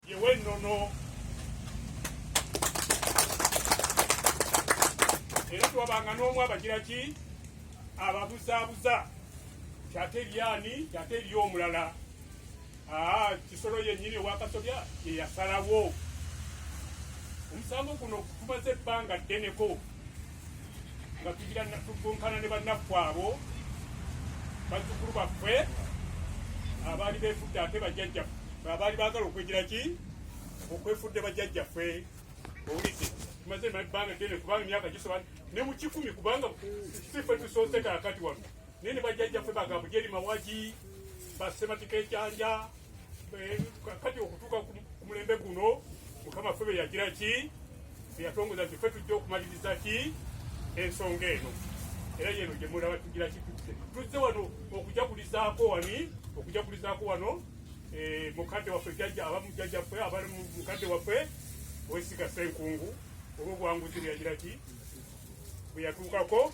yewennono era twabanga n'omu abagira ki ababuzaabuza kyate lyani kyate eri omulala ah, kisolo yennyini owakasobya yeyasalawo omusango guno gumaze ebbanga ddeneko nga tugira tukunkana ne bannaffe abo bazzukulu baffe abaali befudde ate bajjajjaffe abaali baagala okwegira ki okwefudde bajjajjaffe owulidde tumaze ebbanga ddene kubanga emyaka gisoba ne mu kikumi kubanga sife tusoose kaakati wano naye ne bajjajjaffe bagamba jeri mawagi basematika ekyanja eh, kati okutuuka ku mulembe guno mukama ffe beyagira ki beyatongoza nti ffe tujja okumaliriza ki ensonga eno era yeno gyemulaba tugira ki tuzze wano okujagulizaako wani okujagulizaako wano eh, mukadde waffe jajja abamujjajjaffe abali mukadde waffe wesiga senkungu olwobuwanguzi bweyagira ki bweyatuukako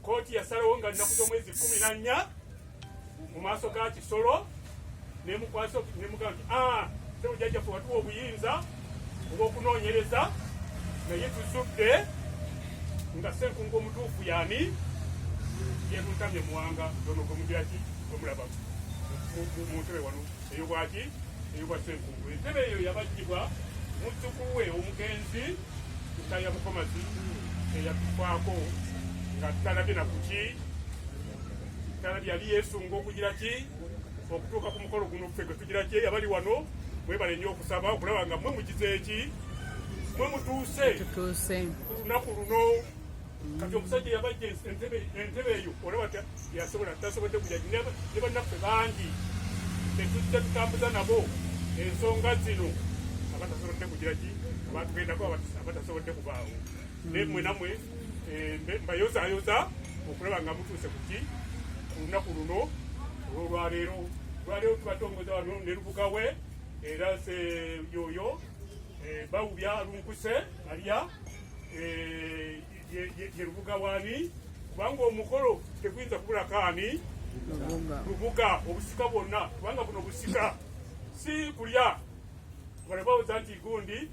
Kkooti yasalawo nga nnaku z'omwezi kkumi na nnya mu maaso ga Kisolo nemukwasa nemugamba nti ah, sebujajjaffe watuwa obuyinza obw'okunoonyereza naye tuzudde nga senkungu omutuufu yani yetuntamye muwanga ono gwemugiraki omulaba mu ntebe wano eyobwaki eyobwa senkungu entebe eyo yabajjibwa muzzukulu we omugenzi Mukaya Bukomazi eyatufaako nga tutalabye na kuki tutalabye yali yeesunga okugira ki okutuuka ku mukolo guno ffe gwetugira ki abali wano mwebale nnyo okusaba okulaba nga mwe mukize eki mwe mutuuse ku lunaku luno kati omusajja yabajja entebe entebe eyo olaba yasobola tasobodde kujagi ne bannaffe bangi tetujja tutambuza nabo ensonga zino abatasobodde kujiraki abatugendako abatasobodde kubaawo naye mwe namwe eh, mbayozayoza okulaba nga mutuuse kuki ku lunaku luno olwolwaleero olwaleero tubatongoza wano ne lubuga we era se yoyo eh, bawubya lunkuse alya eh, ye lubuga wani kubanga omukolo teguyinza kubulako ani lubuga obusika bwonna kubanga buno busika si kulya balabawoza nti gundi